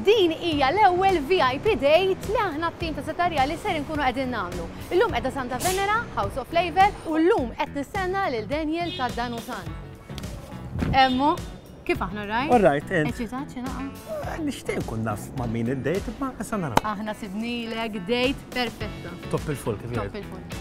Din hija l-ewwel VIP Date li aħna t-tim ta' Seta' Rjali ser inkunu qegħdin nagħmlu. Illum qiegħda Santa Venera, House of Flavour, u llum qed nistenna lil Daniel ta' Dan Hu San. Emmu, kif aħna alright? Alright, int? Eċitat xi naqgħa? Eh, nixtieq nkun naf ma' min id-date, imma issa naraw. Aħna sibnilek date perfetta. Top il-full kif jgħidu. Top il-full.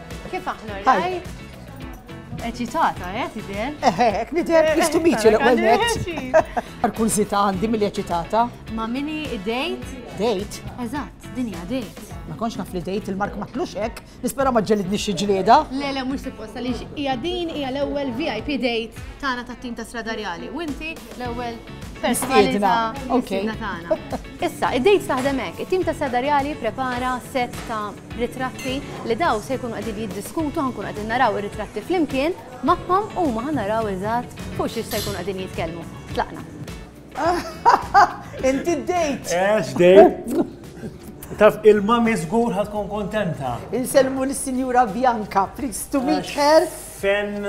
Kif aħna rajt? Eċitata, eh, tidher? Eħe, eh, ek nidher eh, istu miċi eh, l-ewwel net. Arkużita għandi mill eċitata. Ma minni id-dejt? Dejt? Eżatt, dinja dejt. Ma konx naf li dejt il-mark ma tlux hekk, nispera ma ġelidni xi ġlieda. Le, le, mhux supposta li hija din hija l-ewwel VIP dejt tagħna tat-tim ta' Stradarjali. U inti L-ewwel personalità mistiedna tagħna. Issa, id-dejt taħdem hekk. It-tim ta' Sadarjali prepara set ta' ritratti li daw se jkunu qegħdin jiddiskutu ħankun qegħdin naraw ir-ritratti flimkien magħhom u ma naraw eżatt fuq xiex se jkunu qegħdin jitkellmu. Tlaqna. Inti d-dejt. Ex, dejt. Taf, il-mami zgur ħatkun kontenta. Insellmu l-Sinjura Bianca, please to meet her. Fen,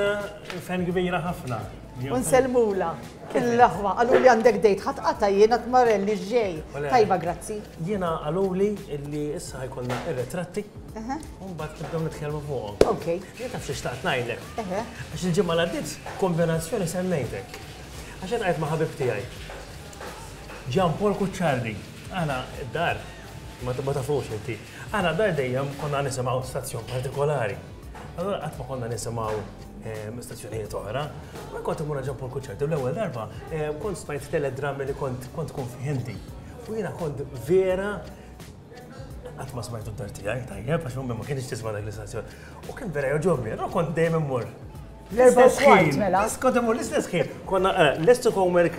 fen kbira ħafna. U nsellmula. L-aħwa, qalu li għandek dejt ħadd qata' jien għad marelli ġej. Tajba, grazzi. Jiena qaluli li issa ħajkollna ir-retratti. U mbagħad nibdew nitkellmu fuqhom. Ok. Jien taf xi xtaqt ngħidlek. Għax il-ġimgħa l-għaddiet kombinazzjoni semmejtek. Għax qed qajt ma' ħabib tiegħi. Ġan Paul Kuċċardi. Aħna d-dar, ma tafux inti. Aħna d-dar dejjem konna nisimgħu stazzjon partikolari. Allora qatt ma konna nisimgħu ehm, stazzjonijiet oħra, ma kont imur ġampu l-kuċċerti. L-ewwel darba ehm, kont smajt teledrammi li kont kont kun fihindi. U jiena kont vera qatt ma smajtu d-dar tiegħi tajjeb għax ma kienx tisma' dak l-istazzjon. U kien vera joġobni, allora kont dejjem immur. L-erba' ħin. Mela. Kont imur l-istess ħin. Konna eh, l-istess homework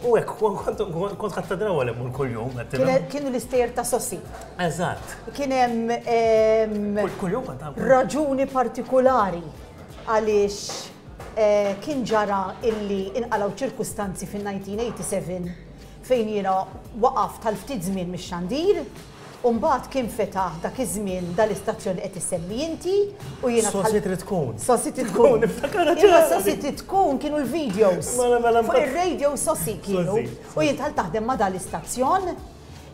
U hekk, kont ħadd ta' draw għal immur kuljum, għedtilhom. Kienu l-istejjer ta' Sossi. Eżatt. Kien hemm. Kuljum kont għamlu. Raġuni partikulari għaliex eh, kien ġara illi inqalaw ċirkustanzi fin-1987 fejn jiena waqaf tal-ftit żmien mix-xandir U mbagħad kien fetaħ dak iż-żmien dal-istazzjon li qed issemmi inti u jiena tħalliet. Sossi Trid Tkun. Sossi Trid Tkun. Niftakarha ċar. Imma Sossi Trid Tkun kienu l-videos. Mela mela. Fuq ir-radio Sossi kienu. U jien dħalt naħdem ma' dal-istazzjon.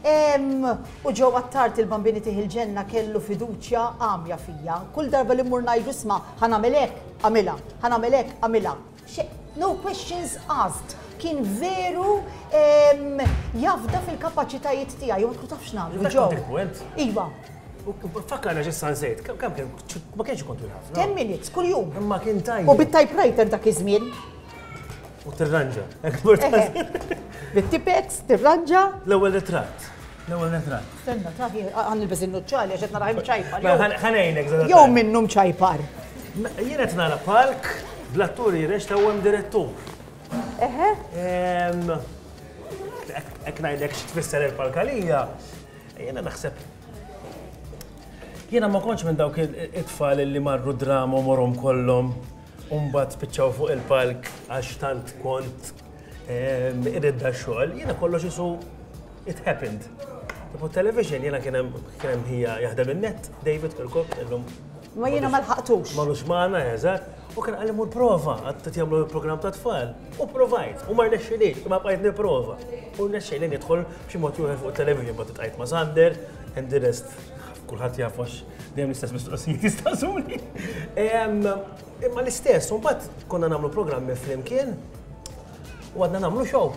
U Joe Attard il-Bambini Tih il-Ġenna kellu fiduċja għamja fija. Kull darba li mmur ngħidlu isma' ħa nagħmel hekk, agħmilha, ħa nagħmel hekk, agħmilha. No questions asked. Kien veru jafda fil-kapaċitajiet tiegħi, u ma tafx nagħmlu ġew. Iva. Fakkarna ġissa nsejt, kemm kien ma kienx ikun twil ħafna. 10 minutes kuljum. Imma kien tajjeb. U bit-typewriter dak iż-żmien. U tirranġa. Bit-tipex, tirranġa. L-ewwel ritratt. L-ewwel retratt. Stenna, ta' għan il-bez il-nuċċali għax qed nara mċajpar. Mela, ħanejnek żgħar. Jew minnu mċajpar. Jien qed nara palk bl-atturi rex ta' hemm direttur. Eħe? Ek ngħidlek x'tfisser il-palkalija. Jiena naħseb Jiena ma konċ minn dawk it-tfal li marru drama u morom kollom un bat spiċċaw fuq il-palk għax tant kont Iridda xogħol, jiena kollox isu it happened. Tipo television jiena kien hemm ħija jaħdem in-net, David Kirkuk, illum. Ma jiena ma lħaqtux. Ma lux magħna, eżatt. U kien għalli mur prova, għad t-tjamlu il-program ta' tfal. U provajt, u mar nexxilix, ma bqajt niprova. U nexxili nidħol b'xi mod juħel fuq television, ma t-tqajt ma' Sander, and the rest. Kulħat jafux, dejjem l-istess mistoqsijiet jistaqsuni. Imma l-istess, u mbagħad konna nagħmlu programmi flimkien u għadna nagħmlu show.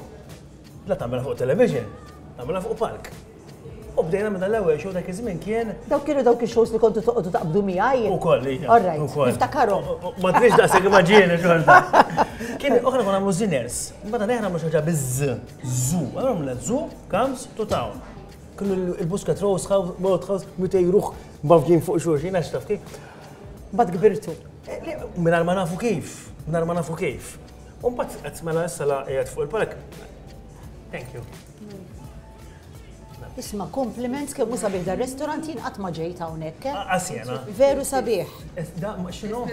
La tagħmel fuq television, tagħmilha fuq palk. U bdejna minn l-ewwel show dak iż-żmien kien. Dawk kienu dawk ix-shows li kontu toqgħodu taqbdu miegħi. Ukoll li. All right. Niftakarhom. Ma tridx daqshekk immaġini xorta. Kien oħra konna nagħmlu ziners. Mbagħad aħna nagħmlu xi ħaġa biż-ż. Żu. Allura minn żu comes to town. Kienu il-busket rose house, mort house, mitej ruħ bavġin fuq xulxin, għax taf kif. Mbagħad kbirtu. Mingħajr ma nafu kif, mingħajr ma nafu kif. U mbagħad qed mela issa la qiegħed fuq il-palk. Thank you. Isma, kompliments kemm u sabiħ dar restaurant jien qatt ma ġejt hawnhekk. Eh? Asjena. Ah, ah, Veru sabiħ. Eh, da, xinu?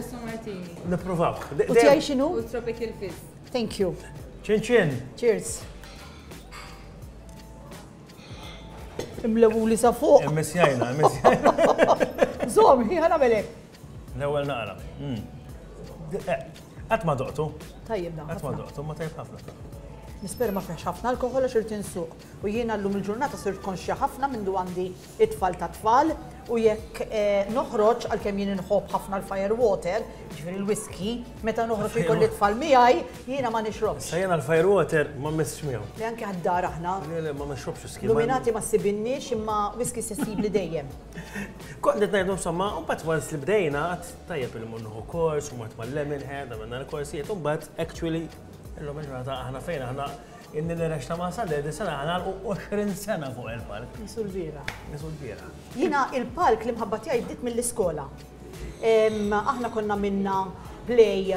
Nipprovaw. U tiegħi xinu? U tropical fizz. Thank you. Ċin ċin. Cheers. Imlewuli sa fuq. Immisjajna, immisjajna. Zom, hi ħana melek. L-ewel naqra. Hmm. Eh, Għat ma doqtu. Tajjeb dan. Għat ma doqtu, ma tajjeb ħafna. Nisper ma fiex ħafna alkohol għax irtin suq. U jiena l-lum il-ġurnata sirt konxja ħafna minn du għandi it-tfal ta' tfal U jekk noħroġ, għalkemm jien inħobb ħafna l-fire water, ġifieri l-whisky, meta noħroġ u jkolli tfal miegħi, jiena ma nixrobx. Sa jiena l-fire water ma mmessx miegħu. Le anke għad-dar aħna. Le le ma nixrobx whisky. Luminati ma ssibinniex imma whisky se ssibli dejjem. Kont qed ngħidu insomma, u mbagħad once li bdejna għad tajjeb li mmur nieħu kors, u mort mal-Lemonhead, għamilna l-korsijiet, u mbagħad actually illum il-ġurnata aħna fejn aħna. Inni li rexxa ma' Saledi sena ħa nagħlqu 20 sena fuq il-palk. Nisu l-bieraħ. Nisu l-bieraħ. Jiena il-palk l-imħabba tiegħi bdiet mill-iskola. Aħna konna għamilna play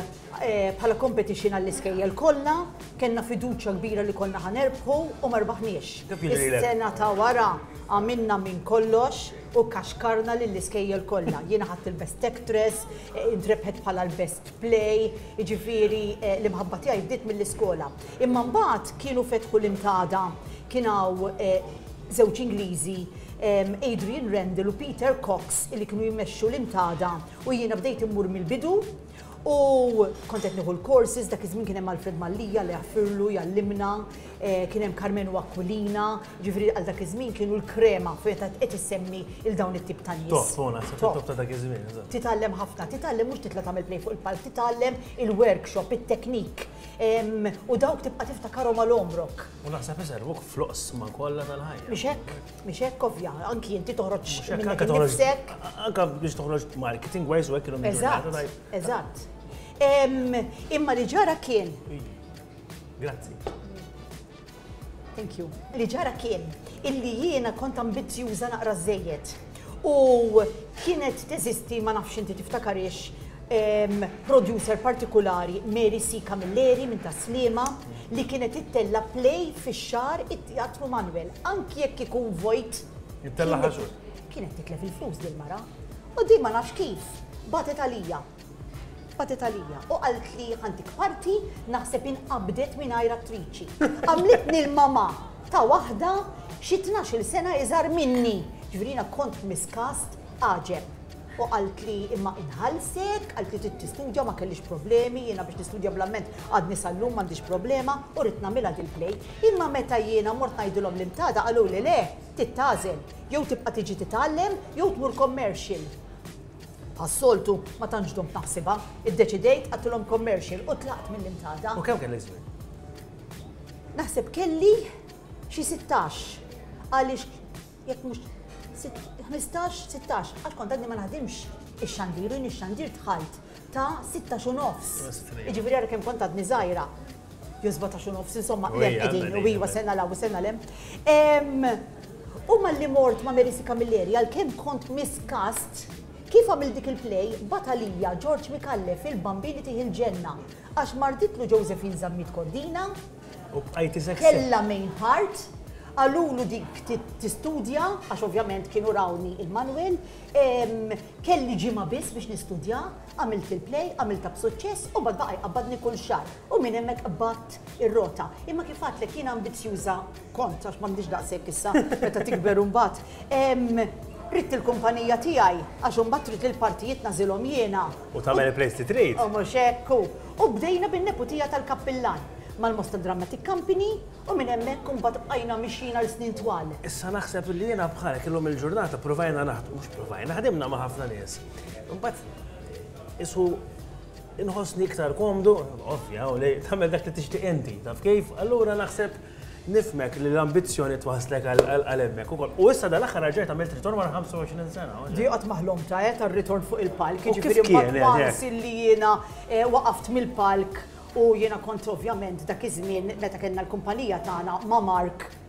bħala competition għall-iskejjel kollha, kellna fiduċja kbira li konna ħa nerbħu u ma rbaħniex. Is-sena ta' wara għamilna minn kollox u kaxkarna lill-iskejjel kollha. Jiena ħadt il-best actress, intrebħet bħala l-best play, jiġifieri l-imħabba tiegħi bdiet mill-iskola. Imma mbagħad kienu fetħu l-intada, kien hawn żewġ Ingliżi, Adrian Randle u Peter Cox li kienu jmexxu l-intada u jiena bdejt immur mill-bidu u kont qed nieħu l-courses, dak iż-żmien kien hemm Alfred Mallia, Alla jaħfirlu, jgħallimna, Eh, kien hemm Carmenu Aquilina, ġifri għal dak iż-żmien kienu l-krema fejn qed issemmi il dawn it-tip ta' nies. Top, sona, top ta' dak iż-żmien. Titgħallem ħafna, titgħallem mhux titla' tagħmel play fuq il-palk, titgħallem il-workshop, it-teknik. U dawk tibqa' tiftakarhom għal omrok. U naħseb iservuk floqs ma kollha tal-ħajja. Mhix hekk, mhix hekk ovvja, anki inti toħroġ minnek innifsek. Anka biex toħroġ marketing wise u hekk kienu Eżatt, eżatt. Imma li ġara kien Grazzi. Thank you. Li ġara kien illi jiena kont ambizzjuża naqra żejjed. U kienet teżisti ma nafx inti tiftakariex producer partikolari Mary C. Camilleri minn Taslima li kienet ittella play fix-xar it-Teatru Manuel anki jekk ikun vojt. Ittella ħaxu. Kienet titlef il-flus dil-mara. U din ma nafx kif batet għalija. Tpatet għalija u qaltli ħantik parti naħseb inqabdet mingħajr attriċi. Għamlitni l-mama ta' waħda xi il sena iżar minni. Ġifieri kont f'miskast għaġeb. U qalt li imma inħalsek, qalt li trid tistudja ma kellix problemi, jiena biex nistudja bl-amment għadni sal-lum m'għandix problema u rrid nagħmilha dil-play. Imma meta jiena mort ngħidilhom li mtada qalu li le, tittażel, jew tibqa' tiġi titgħallem jew tmur commercial. Bħas-soltu, ma tantx dumt naħsibha, iddeċidejt qatilhom commercial u tlaqt mill-Imtada. U kemm kellek żmien? Naħseb kelli xi sittax. Għaliex jekk mhux ħmistax, sittax, għax kont għadni ma naħdimx ix-xandir u jien ix-xandir dħalt ta' sittax u nofs. Jiġifieri ara kemm kont għadni żgħira. jew 17 u nofs, insomma, lem qegħdin, u iwa sena law, sena lem. U malli mort ma' Merisi Camilleri, għal-kem kont miskast, kif għamil dik il-play, batalija George Mikalle fil-bambini tiħi l-ġenna, għax marditlu Josephine Zammit Kordina, kella main part, għalulu dik tistudja, għax ovvjament kienu rawni il-manwel, kelli ġima biss biex nistudja, Għamilt fil play, għamiltha b'suċċess u mbagħad baqa' jqabbadni kull xahar u minn hemmhekk qbadt ir-rota. Imma kif għadtlek jiena ambizzjuża kont, għax m'għandix daqshekk issa meta tikber imbagħad, ridt il-kumpanija tiegħi għax imbagħad trid li l-partijiet nagħżilhom jiena. U tagħmel il-plays li trid. U mhux hekk hu. U bdejna bin-neputija tal-kappillan, mal-Mosta Dramatic Company u minn hemmhekk imbagħad bqajna mixjin għal snin twal. Issa naħseb li jiena bħalek illum il-ġurnata provajna naħdmu, mhux provajna, ħdimna ma' ħafna nies. Imbagħad isu inħossni iktar komdu, ovvja, u li tagħmel dak li tixtieq inti, taf kif? Allura naħseb nifmek li l-ambizzjoni twaslek għal hemmhekk ukoll. U issa dal-aħħar raġajt għamilt ritorn wara 25 sena. Di qatt maħlom ta' qed eh, ritorn fuq il-palk, jiġifieri mbagħad once eh, eh. li jiena waqaft mill-palk u jiena kont ovvjament dak iż-żmien meta kellna l-kumpanija tagħna ma' Mark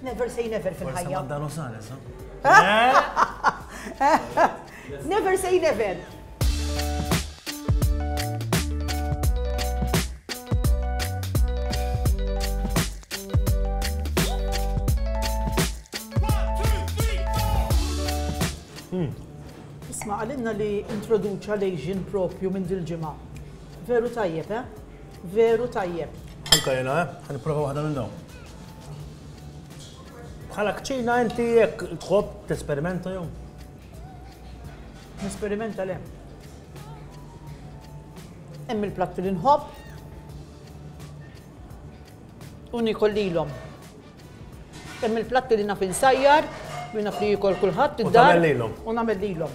Never say never fil-ħajja. Forse Madano Sanes, Never say never. Isma' għalinna li introduċa l-Asian propju minn dil-ġimgħa. Veru tajjeb, eh? Veru tajjeb. Anka jena, eh? Għan provaw għadha minn dawn. Bħala kċina inti jekk tħobb tesperimenta jew? Nesperimenta le. Hemm il-platti li nħobb u nikol lilhom. Hemm il-platti li naf insajjar, li naf li jikol kulħadd id-dar. U nagħmel lilhom.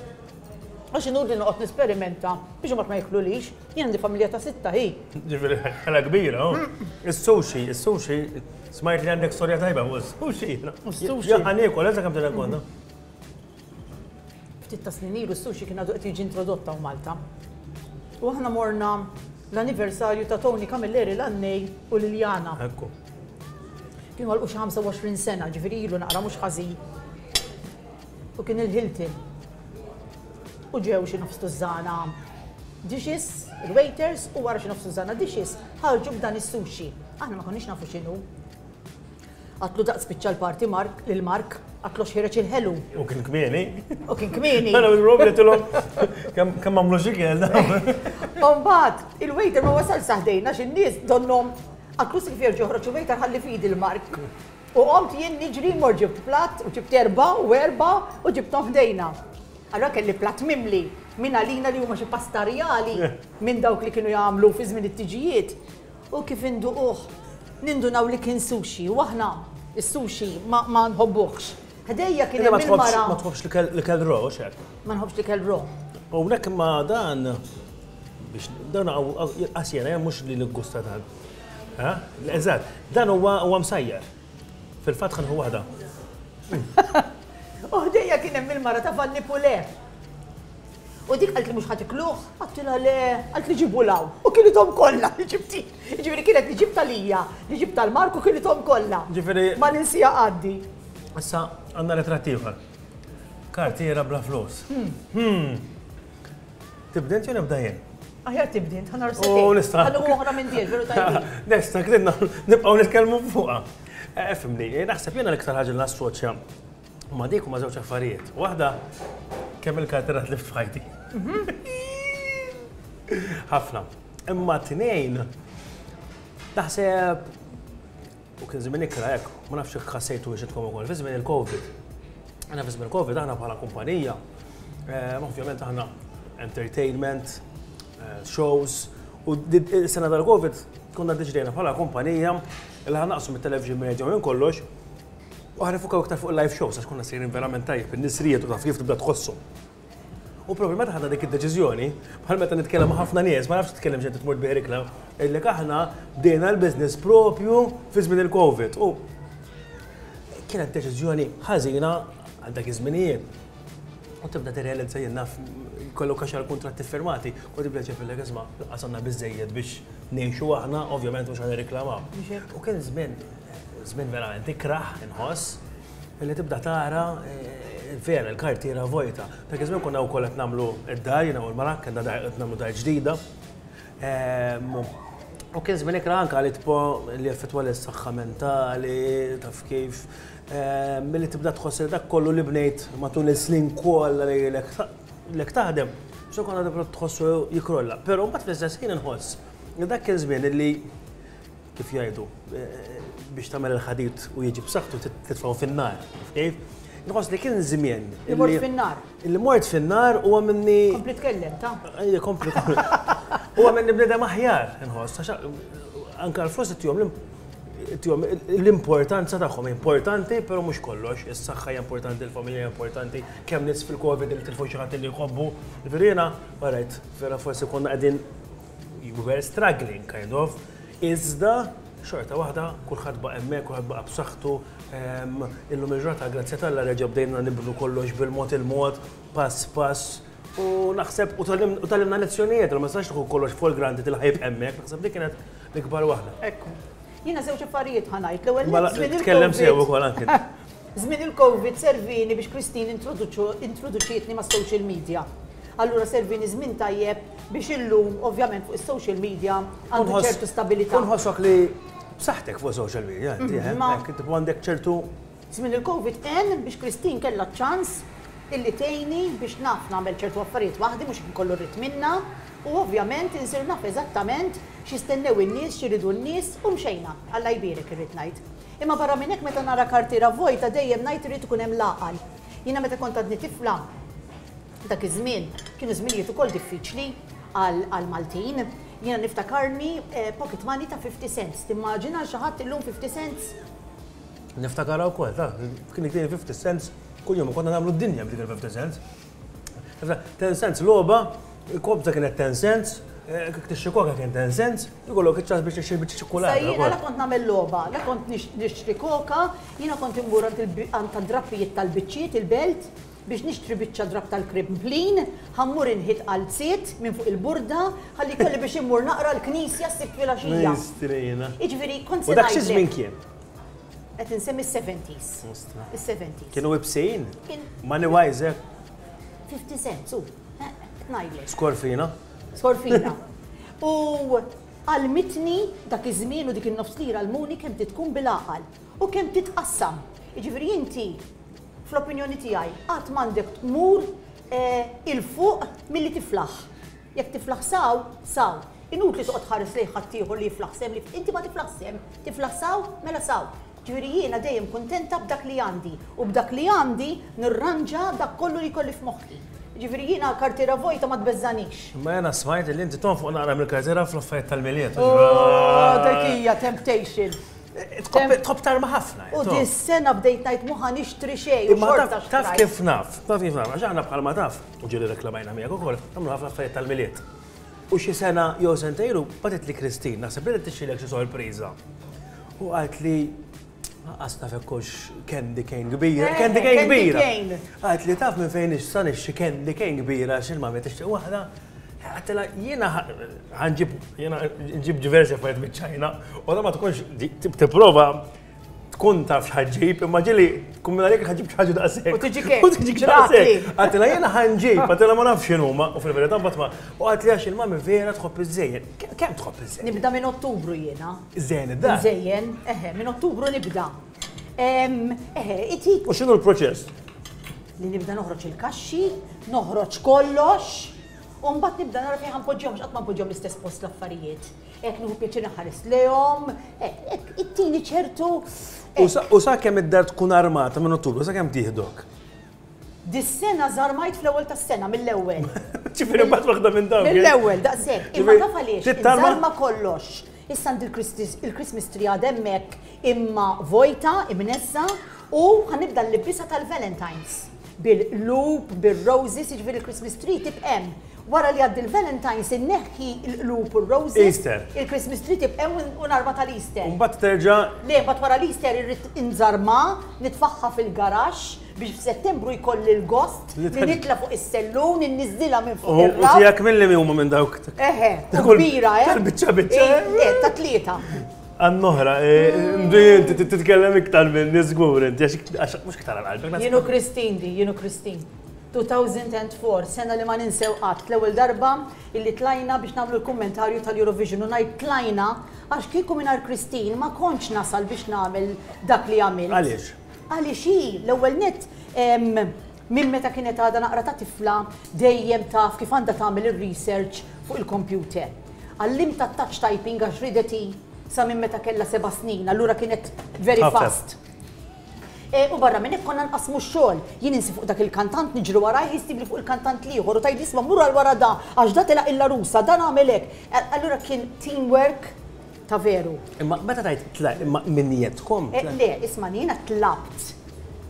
Għax inutli noqgħod nesperimenta biex imbagħad ma jiklulix. Jien għandi familja ta' sitta hi. Ġifieri ħela kbira. Oh. Is-sushi, is-sushi, smajt li għandek storja tajba fuq is-sushi. Is-sushi. Jaħan iekol, eża kemm tirrekonda. Ftit ta' snin ilu s-sushi kien għadu qed jiġi introdotta u Malta. U aħna morna l-anniversarju ta' Tony Camilleri l-annej u Liljana. Ekku. Kienu għal 25 sena, ġifieri ilu naqra mhux ħażin. u kien il-Hilton. U ġew xi nofs tużżana dishes, il-waiters, u wara xi nofs tużżana dishes ħarġu b'dan is-sushi. Aħna ma konniex nafu x'inhu. Għatlu daqs spiċċa l-parti Mark lil Mark, għatlu xħireċ il-ħelu. U kien kmieni. U kien kmieni. Għana minn robi għatilom, kam għamlu xikel. Umbat, il-waiter ma wasal saħdejna xin nis donnom għaklu s-sifjer ġoħroċ il-waiter ħalli fidi l-Mark. U qomt jien niġri mort ġibt platt u ġibt erbgħa u erbgħa u ġibthom f'dejna. Allura kelli platt mimli minn għalina li huma xi pasta rjali minn dawk li kienu jagħmlu fi żmien it-tiġijiet. U kif induquh nindunaw li kien sushi u aħna s-sushi ma nħobbuhx. Ħdejja kien hemm il-mara. Ma tħobbx l-ikel raw għax hekk? Ma nħobbx l-ikel raw. Hawnhekk imma dan biex dan qas jiena mhux li niggusta tant. Eżatt, dan huwa huwa msajjar. Fil-fatt ħanħu waħda. U ħdejja kien hemm il-mara ta' Vanni Pule. U dik qalt li mhux ħatikluh, għattilha le, qalt li ġibu law. U kienithom kollha li ġibti. Ġifieri kienet li ġibta lija, li ġibta l-Marku kienithom kollha. Ġifieri. Ma ninsija għaddi. Issa għandna ritratt ieħor. Kartiera bla flus. Hmm. hmm. Tibda int jew nibda jien? Aħjar tibdi int, ħana rsetti. U nista. Ħana uħra minn diex, veru tajbi. Nesta, kridna, nibqaw nitkellmu fuqa. Eh, fimni, eh, naħseb jena l-iktar ħagġa nassoċja ma dik u ma zewċ affarijiet. Waħda, kemm il-karterat li fħajti. Ħafna. Imma t-tnejn, naħseb U kien żmien ikra hekk, ma nafx jekk ħassejtuhiex intkom ukoll, fi żmien il-Covid. Aħna fi żmien il-Covid aħna bħala kumpanija, eh, ovvjament aħna entertainment, eh, shows, u s-sena tal-Covid konna diġdejna bħala kumpanija li ħanaqsu mit-television media minn kollox u ħanifukaw iktar fuq il-live shows għax konna sejrin verament tajjeb, in-nisrijiet u taf kif tibda tħossu. U propju meta ħadna dik id-deċiżjoni, bħal meta nitkellem ma' ħafna nies, ma nafx titkellem xejn tmur tbieħ l-ikla, għidlek aħna bdejna l-business propju fi żmien il-COVID. U kienet deċiżjoni ħażina għal dak iż-żminijiet. U tibda tirrealizza jien naf kollok għax għal-kontratti firmati, u tibda ċefillek isma' qasamna biżejjed biex ngħixu aħna, ovvjament mhux ħan irriklamaw. U kien żmien, żmien verament ikrah inħoss, Li tibda tara vera l-kartiera vojta. Dak iż-żmien konna wkoll qed nagħmlu d-dar, jiena u l-mara, kellna dar qed nagħmlu dar ġdida. Ehm, u kien żmien ikra anke għal itpo li effettwa lis-saħħa mentali, taf kif. Ehm, milli tibda tħoss li dak kollu li bnejt matul is-snin kollha li lek taħdem, so konna tibda tħossu jikrolla. Però mbagħad fl-istess ħin inħoss li dak kien żmien li Kif jgħidu, biex tagħmel il-ħadid u jiġi b'saħħtu titfgħu fin-nar. Kif? Nħoss li kien żmien. Il-mort fin-nar. Il-mort fin-nar u għamilni. Kompli tkellem, ta? Ejja, kompli. U għamilni bnedem aħjar, nħoss. Anka l-flus tijom l-importanza tagħhom importanti, però mhux kollox. Is-saħħa hija importanti, il-familja hija importanti, kemm nis fil-Covid li tilfu xi ħadd li jħobbu. Verina, barajt, vera forsi konna qegħdin You were struggling kind of, iżda xorta waħda kulħadd baqa' hemmhekk, kulħadd baqa' b'saħħtu. Ehm, illum il-ġurnata grazzja tal-la reġa' bdejna nibnu kollox bil-mod il-mod, pass pass. U naħseb u talimna lezzjonijiet, ma sax tħu kollox fuq il-granti tilħajb hemmhekk, naħseb li kienet l-ikbar waħda. Ekk. Jiena żewġ affarijiet ħanajt. L-ewwel mela, tkellem sew ukoll anke. Żmien il-Covid servieni biex Christine introduċietni mas-social media. Allura servieni żmien tajjeb biex illum ovvjament fuq is-social media għandi ċertu stabilità. U nħossok li b'saħħtek fuq social media inti, eh? Ma għandek ċertu. Żmien il-Covid għen biex Christine kellha ċ-ċans illi tgħinni biex naf nagħmel ċertu affarijiet waħdi mhux jekk ikollu rrid minnha u ovvjament insir naf eżattament x'jistennew in-nies, x'iridu n-nies u mxejna. Alla jbierek irrid ngħid. Imma barra minn hekk meta nara kartiera vojta dejjem ngħid irid ikun hemm l-għaqal. Jiena meta kont għadni tifla, dak iż-żmien kienu żminijiet ukoll diffiċli għall-Maltin. Jiena niftakarni pocket money ta' fifty cents. Timmaġina xi ħadd illum fifty cents? Niftakarha wkoll, taf, kien iktini fifty cents kuljum u konna nagħmlu d-dinja b'dik il-fifty cents. Ten cents logħba, kobza kienet ten cents, eh, tixxi koka kien ten cents, ikollok iċ-ċans biex tixxi biex ċikkulata. Jiena la kont nagħmel logħba, la kont nixtri koka, jiena kont immur għand tad-drappijiet tal-biċċiet il-belt biex nixtri biċċa drab tal-krimplin, ħammur inħit qalziet minn fuq il-burda, ħalli kolli biex immur naqra l-knisja s-sibt fil-axija. Iġviri, kont se. Dak xi żmien kien? Qed insemmi s-70s. Is-70s. Kienu ibsin? Money wise, eh? 50 cent, su. Ngħidlek. Skorfina. Skorfina. U għalmitni dak iż-żmien u dik in-nofs lira l-muni kemm titkun bil-għaqal u kemm titqassam. Jiġifieri inti fl-opinjoni tiegħi qatt m'għandek tmur eh, il-fuq milli tiflaħ. Jekk tiflaħ saw, saw. Inutli toqgħod tħares lejn ħaddieħor li jiflaħ sehem li inti ma tiflaħx sehem. Tiflaħ saw, mela saw. Ġifieri jiena dejjem kuntenta b'dak li għandi u b'dak li għandi nirranġa dak kollu li jkolli f'moħħi. Ġifieri jiena kartiera vojta ma tbeżżagħnix. Imma jiena smajt li inti tonfoq naqra mill-kartiera fl-affarijiet tal-Milied. Ooh, dik hija temptation. Tħobb tarma ħafna. U dis-sena bdejt ngħid mhu ħa nixtri xejn u xorta xtrajt. Imma taf kif naf? Taf kif naf? Għax aħna bħalma taf. u ġieli reklamajna miegħek ukoll, nagħmlu ħafna affarijiet tal-Milied. U xi sena jew sentejn ilu bagħtitli Christine, naħseb li qed tixxilek xi sorpriża. U qalt li Għas taf ekkux candy cane kbira. Eh, candy cane kbira. Għat li taf minn fejn ixsan ixxi candy cane kbira xil ma met ixxi wahda. Għatela jena għanġib jena ġib diversi affarijiet mit-ċajna u ma tkunx tipprova tkun taf xħagġib, imma ġili, tkun minna jek ħagġib xħagġu da' sekk. U tiġi kek. U tiġi kek. Għatila jena ħanġib, għatila ma nafx xinu, ma u fil-verita batma. U għatila għax il-mami vera tħobb iż-żejjen. Kem tħobb iż-żejjen? Nibda minn ottubru jena. Iż-żejjen id-da. Iż-żejjen, eħe, minn ottubru nibda. Eħe, itik. U xinu l-proċess? Li nibda noħroċ il-kaxxi, noħroċ kollox, u mbagħad nibda nara fejn ħanpoġġihom x'qatt ma npoġġihom l-istess post l-affarijiet. Hekk nieħu pjaċir inħares lejhom, hekk, hekk, ittini ċertu. U sa- hekk. U sakemm id-dar tkun armata minn tul, u sakemm tieħdok. Dis-sena żarmajt fl-ewwel tas-sena mill-ewwel. Ġifieri mbagħad waħda minn dawn. Mill-ewwel, daqshekk. Imma Ġifieri, taf għaliex? tittarma? Inżarma kollox. Issa għandi l-Christis- il-Christmas tree għad hemmhekk imma vojta, imnezza, U ħa nibda l-libbiesa tal-Valentine's. Bil-qlub, bir-roses, jiġifieri l-Christmas tree tibq' hemm. Wara li jgħaddi l-Valentine's inneħħi l-qlub u r-roses. Easter. Il-Christmas tree tibq' hemm u narma tal-Easter. U mbagħad terġa'. Le, mbagħad wara l-Easter irrid inżarmha, nitfagħha fil-garaxx biex f'Settembru jkolli l-gost li nitla' fuq is-sellun, inniżżilha minn fuq ir-raff. U tiegħek minn liema huma minn dawk? Eħe, kbira, eh? Tal-biċċa biċċa? Le, ta' tlieta. Għannohra, mdu jinti titkellem iktar minn nizgur, inti għax mux iktar għal-qalbek. Jenu Kristin di, jenu Kristin. 2004, sena li ma ninsew qatt, l-ewwel darba illi tlajna biex nagħmlu l-kummentarju tal-Eurovision u ngħid tlajna għax kieku mingħajr Kristin ma kontx nasal biex nagħmel dak li għamil. Għaliex? Għaliex hi l-ewwel nett Minn meta kienet għadha naqra ta' tifla dejjem taf kif għandha tagħmel ir-research fuq il-kompjuter. Għallimtha t-touch typing għax ridet hi sa minn meta kellha seba' snin, allura kienet very fast. U barra minn hekk konna nqassmu x-xogħol. Jien insi fuq dak il-kantant, niġri warajh, hi ssibli fuq il-kantant l-ieħor u tgħidli isma' mur għal wara da għax da telaq il-larusa, dan għamel hekk. Allura kien team work. Ta' veru. Imma meta tgħid tla, imma minn niedkom? Eh, le, ismagħni, jiena tlabt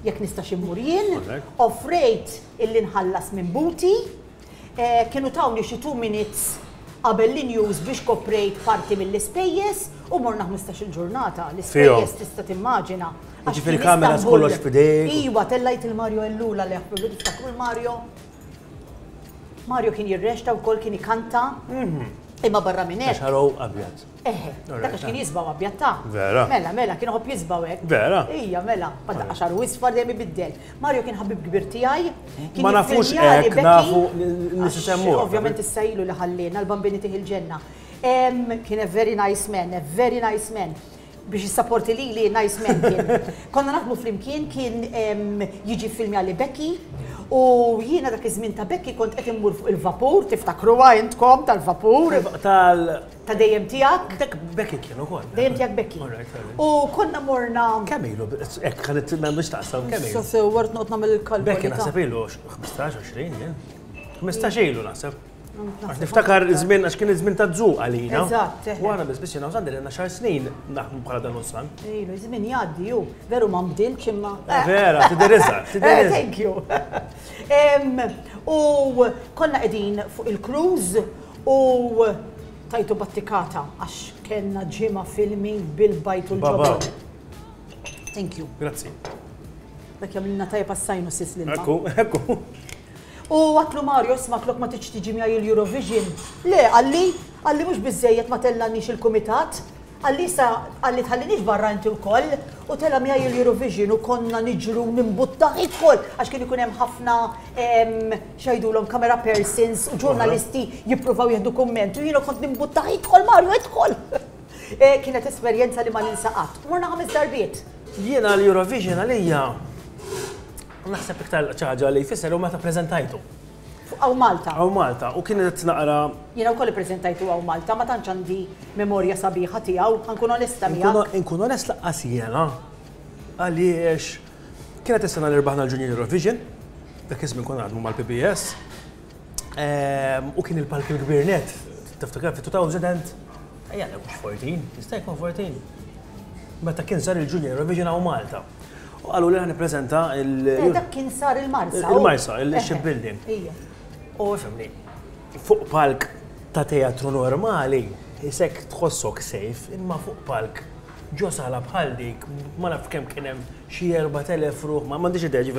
jekk nistax immur jien, offrejt illi nħallas minn buti, eh, kienu tawni xi two minutes qabel l-in-use biex koprejt parti mill-ispejjeż u morna ħmistax-il ġurnata, l-ispejjeż tista' timmaġina. Jiġifieri kameras kollox f'idejk? Iwa, tellajt il-Mario Ellul għalih, tiftakru l-Mario? Mario kien jirrexta wkoll kien ikanta. Imma barra minn hekk. Xarow abjad. Eħe, dak kien jisbaw abjad ta'. Vera. Mela, mela, kien ħobb jisbaw hekk. Vera. Ija, mela, bħal daqqa xaru isfar dejjem ibiddel. Mario kien ħabib kbir tiegħi. Ma nafux hekk, nafu nisisemmu. Ovvjament issa ilu li ħallina l-bambini tih il-ġenna. Kien a very nice man, a very nice man. biex jissaporti li li nice man kien. Konna naħdmu flimkien kien jiġi filmi għalli Becky u jiena dak iż-żmien ta' Becky kont qed immur fuq il-vapur, tiftakruha intkom tal-vapur. Tal ta' dejjem tiegħek. Dak Becky kien ukoll. Dejjem tiegħek Becky. U konna morna. Kemm ilu, hekk ħanet tinna biex taqsam kemm ilu. Sasewwart noqgħod nagħmel il-kalb. Becky naħseb ilu 15-20 jien. 15 ilu naħseb. Għax niftakar żmien għax kien iż-żmien ta' żuq għalina. Eżatt. U għana biss biex nafsan li għandna xar snin naħmu bħala dan ussan. Ilu, żmien jgħaddi ju, veru ma nbdilx imma. Eh, vera, tidiriża, eh, tidiriża. Thank you. U konna qegħdin fuq il-cruż u tajtu battikata għax kellna ġimgħa filmi bil-bajt u l-ġobba. Thank you. Grazzi. Dak jamilna tajja passajnu sis l-ilma. Ekku, ekku. U għadtlu Mario isma' flok ma tridx tiġi miegħi il-Eurovision. Le, qalli, qalli mhux biżżejjed ma tellgħanniex il-kumitat, qalli issa qalli tħalliniex barra inti wkoll u tela' miegħi il-Eurovision u konna niġru nimbuttaħ id-dħul għax kien ikun hemm ħafna x'għidulhom camera persons u ġurnalisti jippruvaw jieħdu kumment u jiena kont nimbuttaħ idħol Mario idħol. Kienet esperjenza li ma ninsa qatt. Morna ħames darbiet. Jiena l-Eurovision għalija Naħseb iktar xi ħaġa li jfisser hu meta ppreżentajtu. Hawn Malta. Hawn Malta u kien qed naqra. Jiena wkoll ippreżentajtu hawn Malta, ma tantx għandi memorja sabiħa tiegħu, ħa nkun onesta miegħek. Inkun onest lanqas jiena għaliex kienet is-sena li rbaħna l-Junior Eurovision, dak iż-żmien konna naħdmu mal-PBS. U kien il-palk il-kbir net, tiftakar fi 2000, ejja nekku fortin, jista' jkun fortin. Meta kien sar il-Junior Eurovision għaw Malta. U għallu li għan prezenta il- eh, Dak kien sar il-Marsa. Il-Marsa, il-Ship Building. U fimni, fuq palk ta' teatru normali, jisek tħossok sejf, imma fuq palk ġo sala bħal dik, ma naf kem kienem xie 4.000 ruħ, ma mandiġ id-deġi,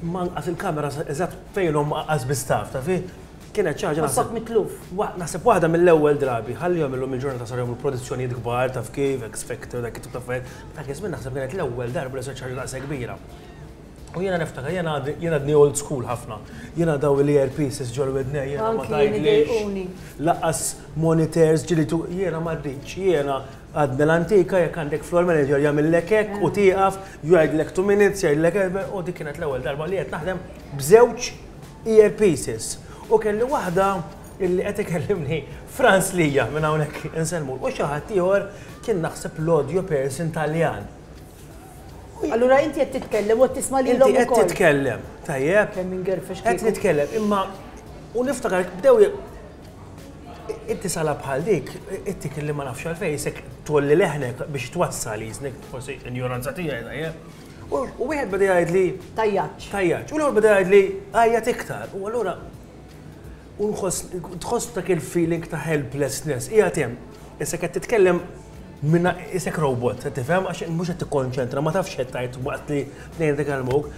ma nqas il-kamera eżat fejn l-omm qas biss taf, taf hi? Kienet xi ħaġa naħseb. Ħossok mitluf. Naħseb waħda mill-ewwel drabi, ħalli jagħmel illum il-ġurnata saru jagħmlu produzzjonijiet kbar taf kif, X Factor, dak it-tip ta' affarijiet. Dak iż-żmien naħseb kienet l-ewwel darba li sar xi ħaġa daqshekk kbira. U jiena niftakar, jiena għadni old school ħafna. Jiena daw l-earpieces ġol widnej, jiena ma tgħidlix. Lanqas monitors ġili tu, jiena ma rridx, jiena. Għad mill-antika jekk għandek floor manager jagħmillek hekk u tieqaf, jgħidlek two minutes, jgħidlek u dik kienet l-ewwel darba li qed naħdem b'żewġ earpieces. U kelli waħda illi qed ikellimni Frans lija minn hawnhekk insellmulu u xi ħadd ieħor kien naħseb l-audio person Taljan. Allura inti qed titkellem u qed tisma' lilhom ukoll. Inti qed titkellem, tajjeb. Kemm ingerfex kieku. Qed nitkellem imma u niftakar bdew Inti sala bħal dik, ittik li ma nafx għalfejn, isek tolli leħnek biex twassal jiznek, forsi ignoranza tijaj, dajje. U wieħed bada jgħid li. Tajjaċ. Tajjaċ. U l-għor bada jgħid li għajjat iktar. U għallura. U tħoss dak il-feeling ta' helplessness. Ija tem, isek għed titkellem minna isek robot, tifhem, għax mhux qed tikkonċentra, ma tafx qed tgħid waqt li tnejn dik għal-mok.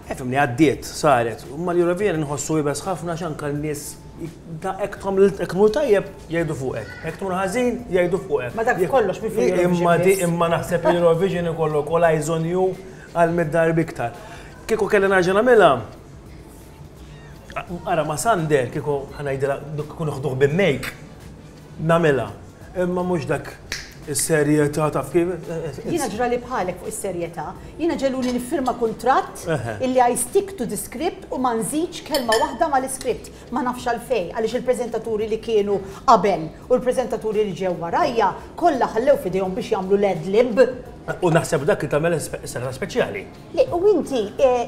Nifhem li għaddiet, saret, imma l-Eurovision inħossu iebes ħafna għax anke n-nies hekk tagħmel hekk tmur tajjeb, jgħidu fuqek, hekk tmur ħażin, jgħidu fuqek. Ma dak li kollox mhi fl-Eurovision biss. Imma naħseb li l-Eurovision ikollok all eyes on you għal mitt darba iktar. Kieku kelli nerġa' nagħmilha, ara ma' Sander kieku ħa ngħidilha kieku nieħduh b'immejk. nagħmilha. Imma mhux dak is-serjetà taf kif. Jiena ġrali bħalek fuq is-serjetà. Jiena ġeluni niffirma kuntratt illi I stick to the script u ma nżidx kelma waħda mal-iskript. Ma nafx għalfejn, għaliex il-preżentaturi li kienu qabel u l-preżentaturi li ġew warajja kollha ħallew f'idejhom biex jagħmlu l-ad lib. U naħseb dak li tagħmel is-serata speċjali. Le, u inti,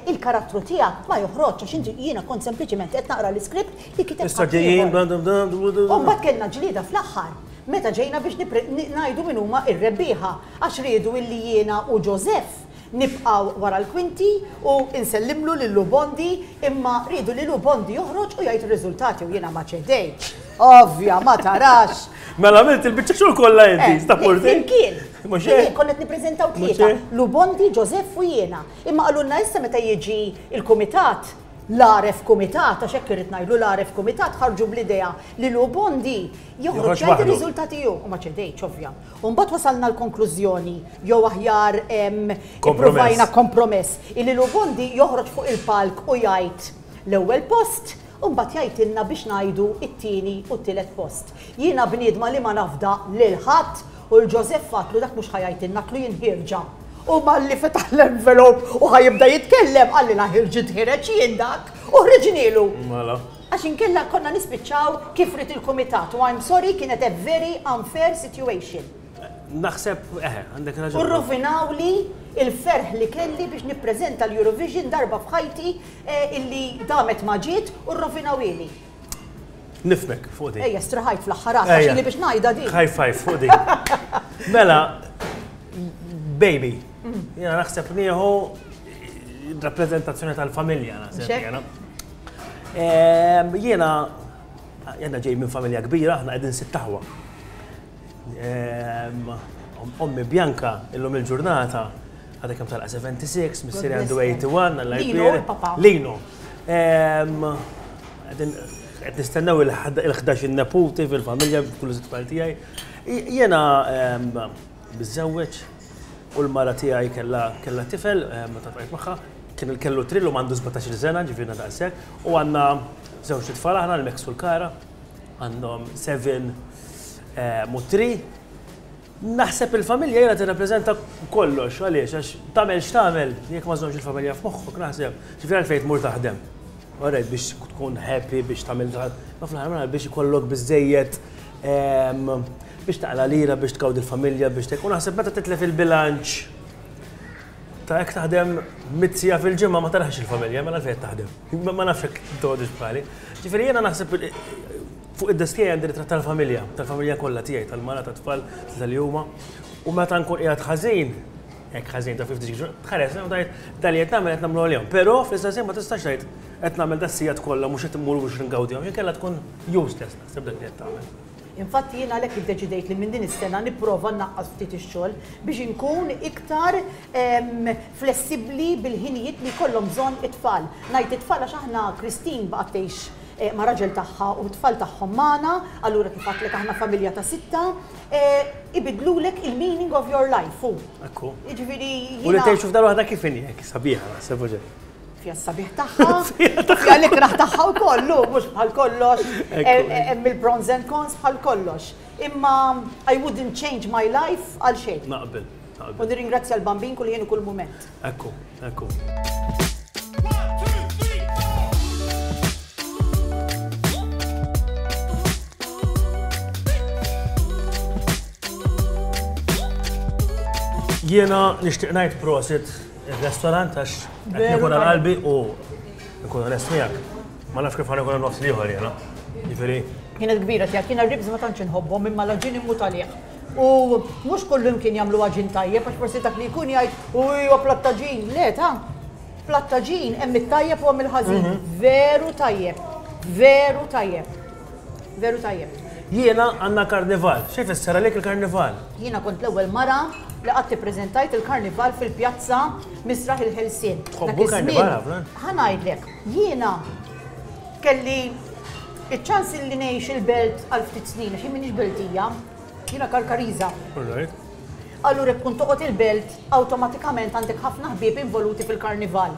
il-karattru tiegħek ma joħroġx għax inti, jiena kont sempliċiment qed naqra l-iskript li kiteb ħaddieħor. U mbagħad kellna ġlieda fl-aħħar meta ġejna biex ngħidu min huma r-rebbieħa għax riedu illi jiena u Joseph nibqgħu wara l-kwinti u nsellimlu lil Lou Bondi imma riedu li Lou Bondi joħroġ u jgħid ir-riżultati u jiena ma ċedejtx. Ovvja, ma tarax! Mela għamilt il-bicċa xur kolla inti, eh, sta porti? Kien, kien, konnet niprezentaw tlieta, Lubondi, Ġosef u jiena. Imma għalunna issa meta jieġi il-komitat, l-aref komitat, għax hekk irid ngħidlu l-aref komitat ħarġu bl-idea li Lubondi joħroġ jgħid ir-riżultati jew u ma ċedejtx ovvja. U mbagħad wasalna l-konklużjoni jew aħjar provajna kompromess illi Lubondi joħroġ fuq il-palk u jgħid l-ewwel post U mbagħad jgħidilna biex ngħidu t-tieni u t-tielet post. Jiena bniedma li ma nafda lil ħadd u 'l Ġożeff għadtlu dak mhux ħa jgħidilna għadtlu jien ħierġa. U malli fetaħ l-envelop u ħa jibda jitkellem qalilha ħirġi tħireġ jien dak u ħriġnielu. Għax inkella konna nispiċċaw kif ried il-kumitat u I'm sorry kienet a very unfair situation. Naħseb, eħe, għandek raġun. U rrovinawli l-ferħ li kelli biex nippreżenta l-Eurovision darba f'ħajti Illi damet ma ġiet u rrovinaw ili. Nifmek fuq din. Ejja, striħajt fl-aħħar għax Ejja. ili biex ngħidha din. High five fuq din. Mela, baby, jena naħseb nieħu rappresentazzjoni tal-familja naħseb Xek? jena. Ehm, Jena, jena ġej minn familja kbira, aħna qegħdin sitt taħwa. Ehm, Ommi Bianca illum il-ġurnata Għadha kemm talqa' 76, missieri għandu 81, Alla jbierek. Lino. Qed nistennew il-11 in-neputi fil-familja b'kull żitfall tiegħi. Jiena miżżewweġ u l-mara tiegħi kellha tifel meta tqajt magħha, kien kellu trill u m'għandu 17-il sena, ġifieri ngħidha daqshekk, u għandna żewġt itfal aħna, l-Max u l-Kara, għandhom seven u three. Naħseb il-familja ilha tirrappreżenta kollox, għaliex? Għax tagħmel x'tagħmel, jekk ma żżommx il-familja f'moħħok, naħseb, ġifieri għalfejn tmur taħdem? Orajt, biex tkun happy, biex tagħmel dak, imma fl-aħħar mill-aħħar biex ikollok biżżejjed biex taqla' lira, biex tgawdi l-familja, biex tek, u naħseb meta titlef il-bilanċ ta' jekk taħdem mitt siegħa fil-ġimgħa ma tarax il-familja, mela għalfejn qed taħdem? Ma nafx jekk tgħodux bħali. Ġifieri jiena naħseb Fuq id-desk tiegħi għandi ritratt tal-familja, tal-familja kollha tiegħi, tal-mara, tat-tfal, tlieta li huma. U meta nkun qiegħed ħażin, hekk ħażin ta' 50 ġurnata, tħares lejhom u tgħid, dan li qed nagħmel qed nagħmlu għalihom. Però fl-istess ħin ma tistax tgħid qed nagħmel das-sigħat kollha mhux qed immur biex ingawdihom, xi nkella tkun useless naħseb dak li qed tagħmel. Infatti jien għalhekk iddeċidejt li minn din is-sena nipprova nnaqqas ftit ix-xogħol biex inkun iktar flessibbli bil-ħinijiet li jkollhom bżonn it-tfal. Ngħid it-tfal għax aħna Christine baqgħet tgħix ma' raġel tagħha u t-tfal tagħhom magħna, allura kif għedtlek aħna familja ta' sitta, ibiddlulek il-meaning of your life, u. Hekk hu. Jiġifieri jiena. U li tgħixu f'dar waħda kif inhi hekk sabiħa naħseb mhux hekk? Fiha s-sabiħ tagħha, fiha l-ikrah tagħha wkoll, hu, mhux bħal kollox, hemm il-pros and cons bħal kollox. Imma I wouldn't change my life għal xejn. Naqbel, naqbel. U nirringrazzja l-Bambin kull ħin u kull mument. Ekku, ekku. Jiena nixtieq ngħid prosit ir-restaurant għax qed nikun għal qalbi u nkun onest miegħek. Ma nafx kif ħanikun nofs liħor jiena. Jiġifieri. Kienet kbira tiegħek, jiena ribs ma tantx inħobbhom imma l-aġini mhu talih. U mhux kullimkien jagħmlu għaġin tajjeb għax forsi dak li jkun jgħid u huwa platt ta' ġin. Le ta' platt ta' ġin hemm it-tajjeb u hemm il-ħażin. Mhm. Veru tajjeb. Veru tajjeb. Veru tajjeb. Jiena għandna karnival. Xi fisser għalik il-karnival? Jiena kont l-ewwel mara li qatt ippreżentajt il-karnival fil-pjazza Misraħ il-Ħelsien. Tħobbu karnival ħafna? Ħa ngħidlek, jiena Kelli ċ-ċans li ngħix il-belt għal ftit snin għax jien m'iniex beltija, jiena Karkariża. Allura jekk tkun toqgħod il-belt awtomatikament għandek ħafna ħbieb involuti fil-karnival.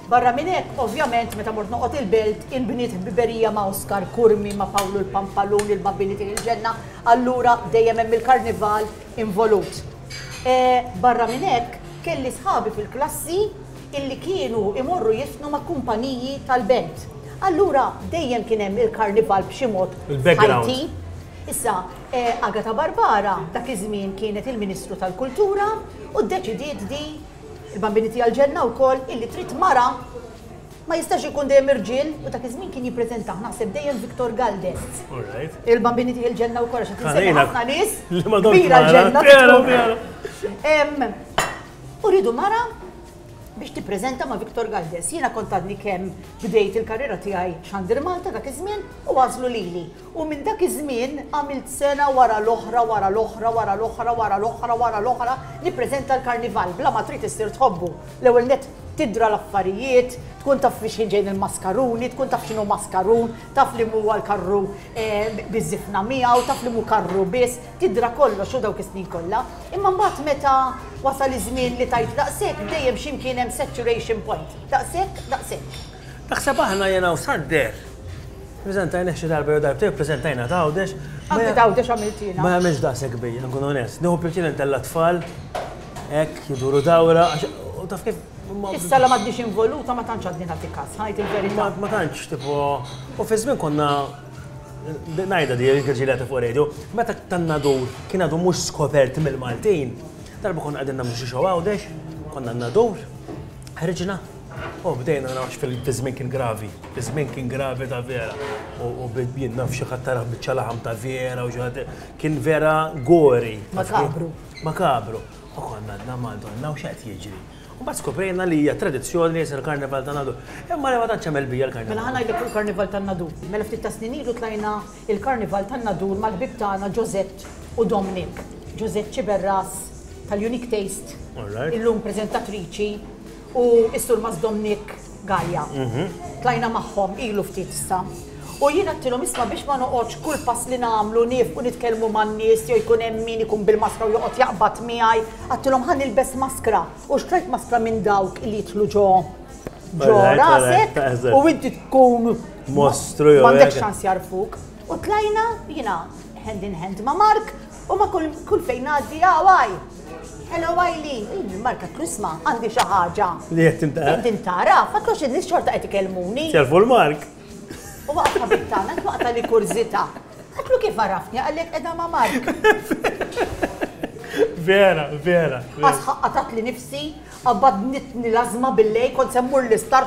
Barra minn hekk, ovvjament meta mort noqgħod il-belt inbniet ħbiberija ma' Oskar Curmi, ma' Pawlu l-Pampalun, il-Babbini tieħi l-ġenna, allura dejjem hemm il-karnival involut. Barra minn hekk, kelli sħabi fil-klassi, illi kienu jmorru jifnu ma' kumpaniji tal-band. Allura dejjem kien hemm il-karnival b'xi mod f'ħajti. Issa, Agata Barbara dak iż-żmien kienet il-Ministru tal-Kultura u ddeċidiet di, il-Bambini Tiegħi l-Ġenna wkoll, illi trid mara, ma jistax ikun dejjem irġiel u dak iż-żmien kien jippreżentah naħseb dejjem Victor Galdest. Il-Bambini Tiegħi l-Ġenna wkoll għax qed insemmi ħafna nies kbira l-ġenna. U rridu mara biex tippreżenta ma' Victor Galdes. Jiena kont għadni kemm bdejt il-karriera tiegħi xandir Malta dak iż-żmien u għażlu lili. U minn dak iż-żmien għamilt sena wara l-oħra wara l-oħra wara l-oħra wara l-oħra wara l-oħra nippreżenta l-Karnival bla ma trid issir tħobbu. L-ewwel nett tidra l-affarijiet, tkun taf fi x'ħin ġejjin il-maskaruni, tkun taf x'inhu maskarun, taf li mhuwa l-karru eh, biż-żifna miegħu, taf li mhu karru biss, Tidra kollox u dawk is-snin kollha, imma mbagħad meta wasal iż-żmien li tgħid daqshekk, dejjem xi mkien hemm saturation point. Daqshekk, daqshekk. Naħseb aħna jiena u Sander, preżentajnih xi darba jew darbtejn, preżentajna t'Għawdex. Anke t'Għawdex għamilt jiena. Ma jagħmilx daqshekk bia, nkun onest. Nieħu pjaċir intella' t-tfal, hekk, iduru dawra, għax u taf kif. Issa la m'għadniex involuta ma tantx għadni nagħti kas, ngħid il-verità. Ma tantx, tipo, u fiż-żmien konna Ngħidha di jekk ġilgħet fuq radio, meta tan-Nadur kien għadu mhux skopert mill-Maltin, darba konna qegħdin nagħmlu xi show Għawdex, konna n-Nadur, ħriġna u bdejna naraw għax fiż-żmien kien gravi, iż-żmien kien gravi ta' vera u jien naf xi ħadd taraħ biċċa laħam ta' vera u xi ħadd kien vera gory. Makabru. Makabru. U konna għadna Madonna u x'qed jiġri. U mbagħad skoprejna li hija tradizzjoni li jisir il-Karnival ta' Nadu. Imma li ma tantx hemm elbija l-Karnival. Mela ħa ngħidlek fuq il-Karnival ta' Nadu. Mela ftit ta' snin ilu tlajna il-Karnival ta' Nadu mal-ħbieb tagħna Josette u Dominic. Josette Sciberras tal-Unique Taste, illum preżentatriċi, u s-Surmast Dominic. Gallia. Tlajna magħhom ilu ftit issa. U jien għattilhom isma' biex ma noqgħodx kull pass li nagħmlu niefqu nitkellmu man-nies jew jkun hemm min ikun bil-maskra u joqgħod jaqbad miegħi. Għattilhom ħa nilbes maskra u xtrajt maskra minn dawk li jidħlu ġo ġo rasek u inti tkun mostru jew. M'għandek xans jarfuk. U tlajna jiena hand in hand ma' Mark U ma kull kull fejn ngħaddi ah, għaj. Hello Eileen, il-marka Chrisma għandi xi ħaġa. Li qed tintara. Qed tintara, fakrux in-nies xorta qed ikellmuni. Servu l-mark. U waqt ħabib tagħna twaqta li kurżità. Għatlu kif għarafni għalhekk qiegħda ma' Mark. Vera, vera. Għax ħaqqatat li nifsi, għabad nitni lazma billej, kont semmur l-istar,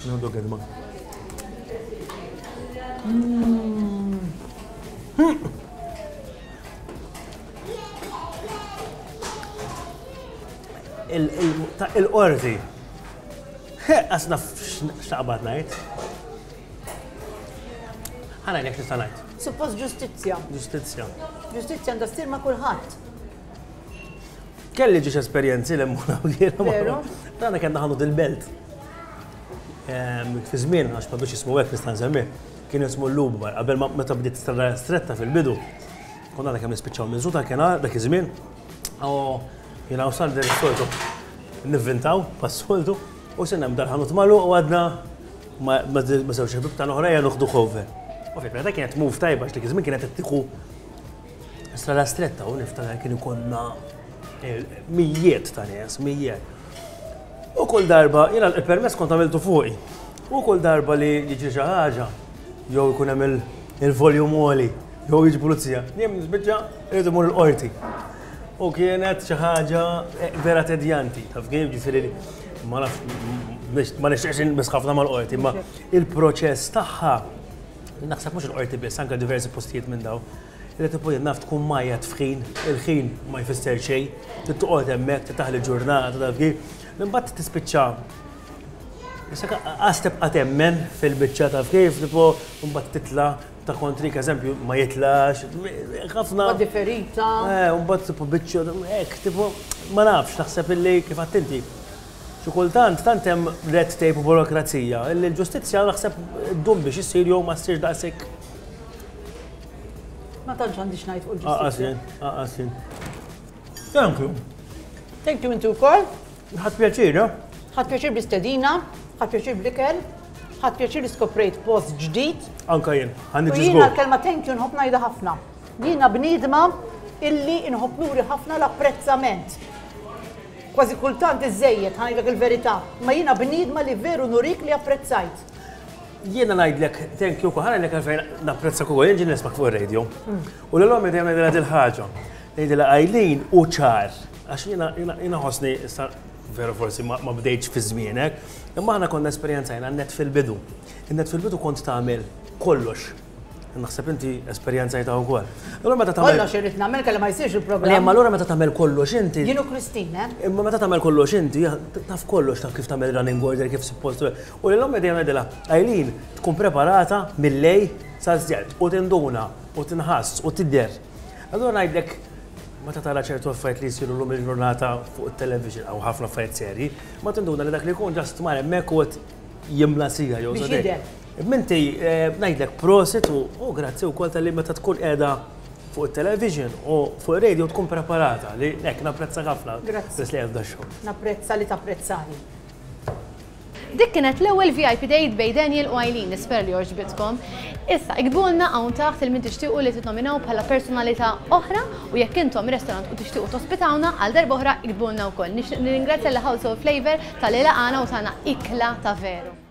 Għandu kelma. Il-qorti. Asna xtaqbat najt. Għana jek nista najt. Suppost ġustizja. Ġustizja. Ġustizja għandha ssir ma' kulħadd. Kelli ġiex esperjenzi li mmur hawn jiena. Veru? Tagħna kellna ħanut il-belt. Ehm, fi żmien għax ma biex jismu hekk nista' nsemmi. Kien jismu l-Lubmar, qabel ma meta bdiet strada stretta fil-bidu. Konna għadha kemm nispiċċaw minn żuta kien dak iż-żmien. Oh, jiena u Sander is-soltu nivvintaw pas-soltu u sinna mdar ħanut malu u għadna ma żewġ ħbib ta' l-oħra jgħal uħdu ħove. U fil-preta kienet move tajba x'dik iż-żmien kienet qed tieħu Issa la stretta u niftakar kien ikonna eh, mijiet ta' nies, mijiet. U kull darba, jena il-permess kont għamiltu fuqi. U kull darba li jiġi xi ħaġa, jew ikun hemm il-voljum għoli, jew jiġi pulizija, jien biċċa irid imur il-qorti. U kienet xi ħaġa eh, vera tedjanti, taf kif ġifieri ma nafx ma nixtieqx nisħafna mal-qorti, ma il-proċess tagħha Naħseb mhux il-Qorti biss, anke diversi postijiet minn dawn. Irid tkun naf tkun majjat f'ħin, il-ħin ma jfisser xejn, trid toqgħod hemmhekk, trid taħli ġurnata taf kif. Imbagħad tispiċċa Għas tibqa' temmen fil-biċċa taf kif, tipo mbagħad titla' ta' kontri eżempju ma jitlax, ħafna. Differita. Eh, mbagħad tipo biċċa, hekk, tipo ma nafx, naħseb illi kif attinti. Xi kultant tant hemm red tape u burokrazija li l-ġustizzja naħseb ddum biex issir jew ma ssirx daqshekk. Ma tantx għandi x'ngħid fuq il-ġustizzja. Aqas jien, aqas jien. Thank you. Thank you inti wkoll. Ħadd pjaċir, ha? Ħadd pjaċir bl-istedina, ħadd pjaċir bl-ikel, ħadd pjaċir li skoprejt post ġdid. Anka jien, ħa niġi żgur. Jiena l-kelma thank you nħobb ngħidha ħafna. Jiena bniedma illi nħobb nuri ħafna l-apprezzament. Kważi kultant iżżejjed, ħa ngħidlek il-verità. Imma jiena bniedma li veru nurik li apprezzajt. Jiena ngħidlek thank you wkoll, ħa ngħidlek għalfejn napprezzak ukoll, jien ġieli nismak fuq ir-radio. U lil ommi dejjem ngħidilha dil-ħaġa. Ngħidilha Eileen hu ċar, għax jiena jiena nħossni issa veru forsi ma ma bdejtx fi żmienek, imma aħna konna esperjenzajna n-nett fil-bidu. In-nett fil-bidu kont tagħmel kollox. Naħseb inti esperjenzajta wkoll. Allura meta tagħmel. Kollox irrid nagħmel kelli ma jsirx il-programm. Imma allura meta tagħmel kollox inti. Jienu Kristin, eh? Imma meta tagħmel kollox inti, taf kollox taf kif tagħmel running order kif suppost. U lil ommi dejjem għedilha, Eileen tkun preparata mill-lej sal-żjed u tinduna u tinħass u tidher. Allura ngħidlek meta tara ċertu affarijiet li jsiru lum il-ġurnata fuq it-television għaw ħafna affarijiet serji, ma tinduna li dak li jkun ġast mar hemmhekk u jimla sija jew żadek. Minti eh, ngħidlek prosit u grazzi wkoll tal-li meta tkun qiegħda fuq il-television u fuq il-radio tkun preparata li nek napprezza ħafna. Grazzi. Bis li għazda xogħol. Napprezza li tapprezzani. Dik kienet l-ewwel VIP date bej Daniel u Eileen, nisper li oġbitkom. Issa, ikbulna hawn taħt il-min tixtiequ li titnominaw bħala personalità oħra U jekk intom restorant u tixtiequ tospitawna għal darba oħra iktbulna wkoll. Nixtieq nirringrazzja lil House of Flavour talli laqgħana u tana ikla ta' veru.